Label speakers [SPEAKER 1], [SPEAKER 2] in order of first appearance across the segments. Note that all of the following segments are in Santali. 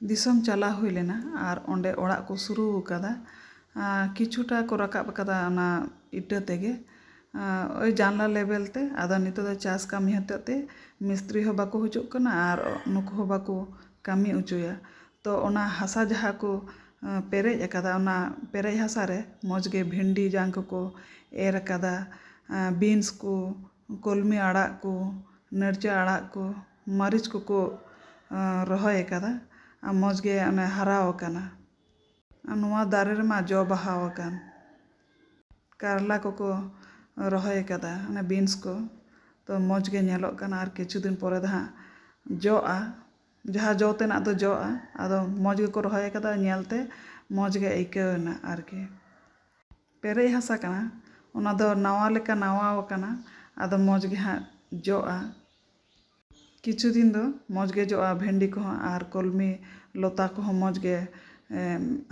[SPEAKER 1] ᱫᱤᱥᱚᱢ ᱪᱟᱞᱟᱣ ᱦᱩᱭ ᱞᱮᱱᱟ ᱟᱨ ᱚᱸᱰᱮ ᱚᱲᱟᱜ ᱠᱚ ᱥᱩᱨᱩ ᱟᱠᱟᱫᱟ ᱠᱤᱪᱷᱩᱴᱟ ᱠᱚ ᱨᱟᱠᱟᱵ ᱟᱠᱟᱫᱟ ᱚᱱᱟ ᱤᱴᱟᱹ ᱛᱮᱜᱮ ᱳᱭ ᱡᱟᱱᱞᱟ ᱞᱮᱵᱮᱞ ᱛᱮ ᱟᱫᱚ ᱱᱤᱛᱚᱜ ᱫᱚ ᱪᱟᱥ ᱠᱟᱹᱢᱤ ᱦᱚᱛᱮᱡ ᱛᱮ ᱢᱤᱥᱛᱨᱤ ᱦᱚᱸ ᱵᱟᱠᱚ ᱦᱤᱡᱩᱜ ᱠᱟᱱᱟ ᱟᱨ ᱱᱩᱠᱩ ᱦᱚᱸ ᱵᱟᱠᱚ ᱠᱟᱹᱢᱤ ᱚᱪᱚᱭᱟ ᱛᱚ ᱚᱱᱟ ᱦᱟᱥᱟ ᱡᱟᱦᱟᱸ ᱠᱚ ᱯᱮᱨᱮᱡ ᱟᱠᱟᱫᱟ ᱚᱱᱟ ᱯᱮᱨᱮᱡ ᱦᱟᱥᱟ ᱨᱮ ᱢᱚᱡᱽ ᱜᱮ ᱵᱷᱮᱱᱰᱤ ᱡᱟᱝ ᱠᱚᱠᱚ ᱮᱨ ᱟᱠᱟᱫᱟ ᱵᱤᱱᱥ ᱠᱚ ᱠᱚᱞᱢᱤ ᱟᱲᱟᱜ ᱠᱚ ᱱᱟᱹᱲᱪᱟᱹ ᱟᱲᱟᱜ ᱠᱚ ᱢᱟᱹᱨᱤᱪ ᱠᱚᱠᱚ ᱨᱚᱦᱚᱭ ᱟᱠᱟᱫᱟ ᱟᱨ ᱢᱚᱡᱽ ᱜᱮ ᱚᱱᱮ ᱦᱟᱨᱟ ᱟᱠᱟᱱᱟ ᱟᱨ ᱱᱚᱣᱟ ᱫᱟᱨᱮ ᱨᱮᱢᱟ ᱡᱚ ᱵᱟᱦᱟ ᱟᱠᱟᱱ ᱠᱟᱨᱞᱟ ᱠᱚᱠᱚ ᱨᱚᱦᱚᱭ ᱟᱠᱟᱫᱟ ᱚᱱᱮ ᱵᱤᱱᱥ ᱠᱚ ᱛᱚ ᱢᱚᱡᱽ ᱜᱮ ᱧᱮᱞᱚᱜ ᱠᱟᱱᱟ ᱟᱨ ᱠᱤᱪᱷᱩ ᱫᱤᱱ ᱯᱚᱨᱮ ᱫᱚ ᱦᱟᱸᱜ ᱡᱚᱜᱼᱟ ᱡᱟᱦᱟᱸ ᱡᱚ ᱛᱮᱱᱟᱜ ᱫᱚ ᱡᱚᱜᱼᱟ ᱟᱫᱚ ᱢᱚᱡᱽ ᱜᱮᱠᱚ ᱨᱚᱦᱚᱭ ᱟᱠᱟᱫᱟ ᱧᱮᱞ ᱛᱮ ᱢᱚᱡᱽ ᱜᱮ ᱟᱹᱭᱠᱟᱹᱣ ᱮᱱᱟ ᱟᱨᱠᱤ ᱯᱮᱨᱮᱡ ᱦᱟᱥᱟ ᱠᱟᱱᱟ ᱚᱱᱟ ᱫᱚ ᱱᱟᱣᱟ ᱞᱮᱠᱟ ᱱᱟᱣᱟ ᱟᱠᱟᱱᱟ ᱟᱫᱚ ᱢᱚᱡᱽ ᱜᱮ ᱦᱟᱸᱜ ᱡᱚᱜᱼᱟ ᱠᱤᱪᱷᱩ ᱫᱤᱱ ᱫᱚ ᱢᱚᱡᱽ ᱜᱮ ᱡᱚᱜᱼᱟ ᱵᱷᱮᱱᱰᱤ ᱠᱚᱦᱚᱸ ᱟᱨ ᱠᱚᱞᱢᱤ ᱞᱚᱛᱟ ᱠᱚᱦᱚᱸ ᱢᱚᱡᱽ ᱜᱮ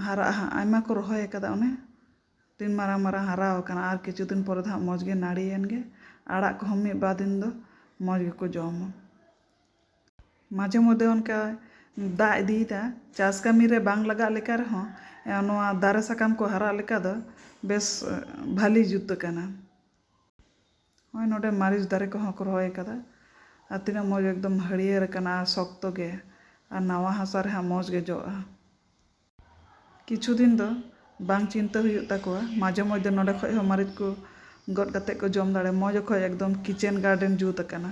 [SPEAKER 1] ᱦᱟᱨᱟᱜᱼᱟ ᱦᱟᱸᱜ ᱟᱭᱢᱟ ᱠᱚ ᱨᱚᱦᱚᱭ ᱟᱠᱟᱫᱟ ᱚᱱᱮ ᱛᱤᱱ ᱢᱟᱨᱟᱝ ᱢᱟᱨᱟᱝ ᱦᱟᱨᱟ ᱟᱠᱟᱱᱟ ᱟᱨ ᱠᱤᱪᱷᱩ ᱫᱤᱱ ᱯᱚᱨᱮ ᱫᱚ ᱦᱟᱸᱜ ᱢᱚᱡᱽ ᱜᱮ ᱱᱟᱹᱲᱤᱭᱮᱱ ᱜᱮ ᱟᱲᱟᱜ ᱠᱚᱦᱚᱸ ᱢᱤᱫ ᱵᱟᱨ ᱫᱤᱱ ᱫᱚ ᱢᱚᱡᱽ ᱜᱮᱠᱚ ᱡᱚᱢᱟ ᱢᱟᱡᱷᱮ ᱢᱚᱫᱽᱫᱷᱮ ᱚᱱᱠᱟ ᱫᱟᱜ ᱤᱫᱤᱭᱮᱫᱟ ᱪᱟᱥ ᱠᱟᱹᱢᱤ ᱨᱮ ᱵᱟᱝ ᱞᱟᱜᱟᱜ ᱞᱮᱠᱟ ᱨᱮᱦᱚᱸ ᱱᱚᱣᱟ ᱫᱟᱨᱮ ᱥᱟᱠᱟᱢ ᱠᱚ ᱦᱟᱨᱟᱜ ᱞᱮᱠᱟ ᱫᱚ ᱵᱮᱥ ᱵᱷᱟᱹᱞᱤ ᱡᱩᱛ ᱟᱠᱟᱱᱟ᱾ ᱱᱚᱜᱼᱚᱭ ᱱᱚᱰᱮ ᱢᱟᱹᱨᱤᱪ ᱫᱟᱨᱮ ᱠᱚᱦᱚᱸ ᱠᱚ ᱨᱚᱦᱚᱭ ᱟᱠᱟᱫᱟ ᱟᱨ ᱛᱤᱱᱟᱹᱜ ᱢᱚᱡᱽ ᱮᱠᱫᱚᱢ ᱦᱟᱹᱨᱭᱟᱹᱲ ᱟᱠᱟᱱᱟ ᱟᱨ ᱥᱚᱠᱛᱚ ᱜᱮ ᱟᱨ ᱱᱟᱣᱟ ᱦᱟᱥᱟ ᱨᱮᱦᱟᱸᱜ ᱢᱚᱡᱽ ᱜᱮ ᱡᱚᱜᱼᱟ᱾ ᱠᱤᱪᱷᱩ ᱫᱤᱱ ᱫᱚ ᱵᱟᱝ ᱪᱤᱱᱛᱟᱹ ᱦᱩᱭᱩᱜ ᱛᱟᱠᱚᱣᱟ, ᱢᱟᱡᱷᱮ ᱢᱚᱫᱷᱮ ᱱᱚᱰᱮ ᱠᱷᱚᱡ ᱦᱚᱸ ᱢᱟᱹᱨᱤᱪ ᱠᱚ ᱜᱚᱫ ᱠᱟᱛᱮ ᱠᱚ ᱡᱚᱢ ᱫᱟᱲᱮᱭᱟᱜᱼᱟ᱾ ᱢᱚᱡᱽ ᱚᱠᱚᱡ ᱮᱠᱫᱚᱢ ᱠᱤᱪᱮᱱ ᱜᱟᱨᱰᱮᱱ ᱡᱩᱛ ᱟᱠᱟᱱᱟ᱾